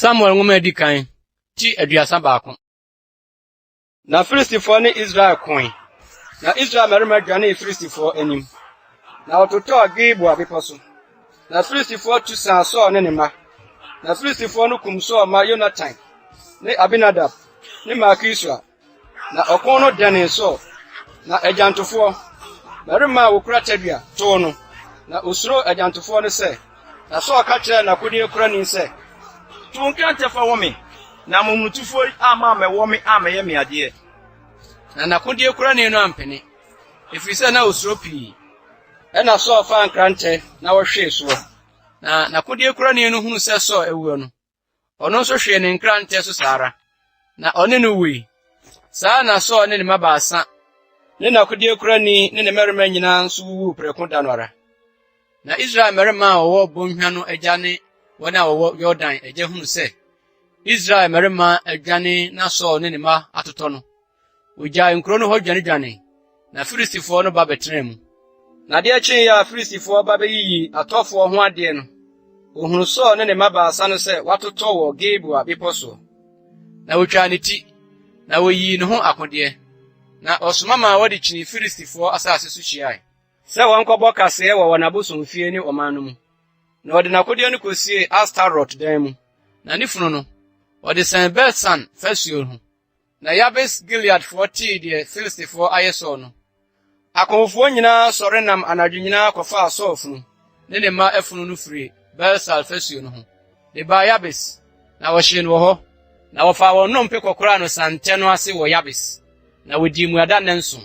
samuel nwoma a edi kan ti aduasa baako na filistifoɔ ne israel koe na israel mmarima dwanee filistifoɔ anim na wɔtotɔɔ gilboa bepɔ so na filistifoɔ tu saa saul ne ne mma na filistifoɔ no kum saul ma yonatan ne abinadab ne malkisua Na ɔko no dɛnee Saul, na agyantofoɔ, mmarima a wɔkura tadua, too no. Na ɔsuroo agyantofoɔ no sɛ, na Saul ka kyerɛɛ n'akodeɛkurani sɛ, To nkɛntɛ fa wɔ me, na momonotofoɔ yi amma ammɛwɔ me ammɛyɛ me adeɛ. Na n'akodeɛkurani no ampene, ɛfiri sɛ na ɔsuro pii. Ɛnna Saul faa nkrantɛ na ɔhwee soɔ, na n'akodeɛkurani no hunuu sɛ Saul awuo no, Ɔno nso hwee ne nkrantɛ so saa ara, na ɔne no wui. Saa ara na Saul ne ne mma baasa ne n'akodeɛkurani ne ne mmarima nyinaa nso wuwuu prɛko da no ara. Na Israel mmarima a wɔwɔ bɔnhwa no agya ne wɔn a wɔwɔ Yordan agya hunu sɛ Israel mmarima adwane na Saul ne ne mma atotɔ no, Wogyaa nkurow no hɔ dwanedwanee, na Filistifo no ba bɛtenaa mu. Na adeɛ kyee a Filistifo ba bɛyiyii atɔfoɔ ho adeɛ no, wɔhunu Saul ne ne mma baasa no sɛ wɔatotɔ wɔ Gilboa bepɔ soɔ. Na wɔtwaa ne ti, na wɔyii ne ho akodeɛ, na ɔsoma maa wɔde kyinii Filistifoɔ asase so hyiae, sɛ wɔnkɔbɔ kaseɛ wɔ wɔn abosomfie ne ɔman no mu, na ɔde n'akodeɛ no kɔsiee Astarot dan mu, na ne funu no, ɔde sɛn Bet-San fasuo ho. Na Yabes Gileadfoɔ tee deɛ Filistifoɔ ayɛ Saul no, akofofoɔ nyinaa sɔre nam anadwo nyinaa kɔfaa Saul funu ne ne mma afunu no firii Beer-Saal fasuo no ho de baa Yabes, na wɔhyee no wɔ hɔ. Na wɔfaa wɔn nnompe kɔkoraa no santɛ no ase wɔ Yabes, na wɔdii mmuada nnanson.